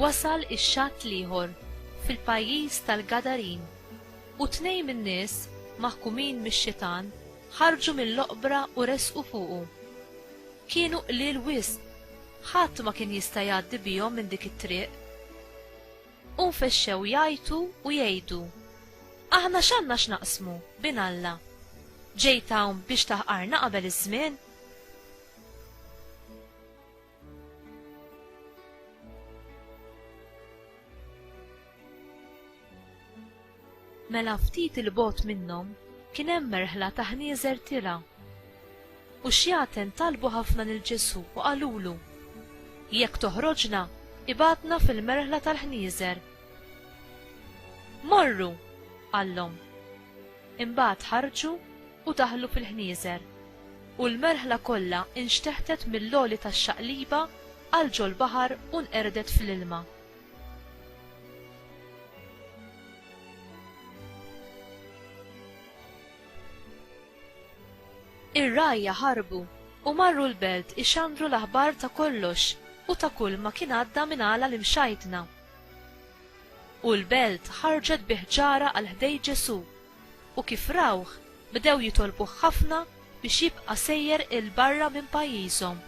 wasal ix-xatt l-ieħor fil-pajjiż tal-Gadarin, u tnejn min-nies maħkumin mix-xitan ħarġu mill-oqbra u resqu fuqu. Kienu qliel wisq, ħadd ma kien jista' jgħaddi bihom minn dik it-triq. U nfexxew jgħajtu u jgħidu, Aħna x'għandna x'naqsmu bin Alla? Ġejt hawn biex taħqarna qabel iż-żmien? Mela ftit 'il bogħod minnhom kien hemm merħla ta' ħnieżer tirgħa. U xjaten talbu ħafna lil Ġesù u qalulu, Jekk toħroġna, ibgħatna fil-merħla tal-ħnieżer. Morru! qallhom. Imbagħad ħarġu u daħlu fil-ħnieżer, u l-merħla kollha inxteħtet mill-għoli tax-xaqliba għal ġol-baħar u nqerdet fl-ilma. Ir-rgħajja ħarbu u marru l-belt ixandru l-aħbar ta' kollox u ta' kull ma kien għadda minn għala l-imxajtna. U l-belt ħarġet bi ħġara għal ħdej Ġesù, u kif rawh, bdew jitolbuh ħafna biex jibqa' sejjer 'il barra minn pajjiżhom.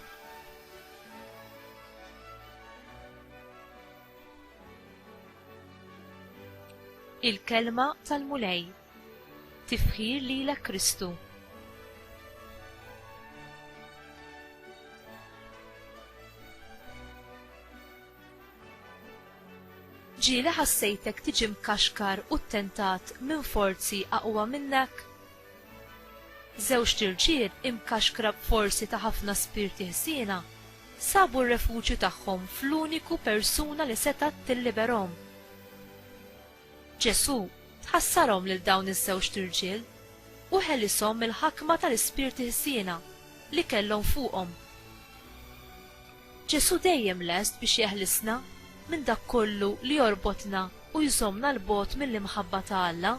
Il-kelma tal-Mulej. Tifħir lilek Kristu. Ġieli ħassejtek tiġi mkaxkar u ttentat minn forzi aqwa minnek? Żewġt irġiel imkaxkra b'forzi ta' ħafna spirti ħżiena sabu r-refuġju tagħhom fl-uniku persuna li setgħet tilliberhom. Ġesù tħassarhom lil dawn iż-żewġt irġiel u ħelishom mill-ħakma tal-ispirti ħżiena li kellhom fuqhom. Ġesù dejjem lest biex jeħlisna minn dak kollu li jorbotna u jżommna 'l bogħod mill-imħabba ta' Alla.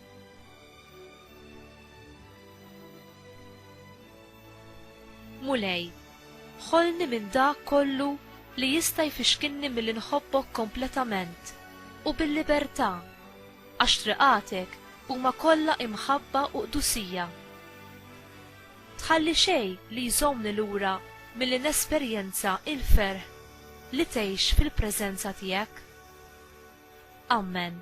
Mulej, ħolni minn dak kollu li jista' jfixkilni milli nħobbok kompletament u bil-libertà, għax triqatek huma kollha imħabba u qdusija. Tħalli xejn li jżommni lura milli nesperjenza l-ferħ li tgħix fil-preżenza tiegħek. Ammen.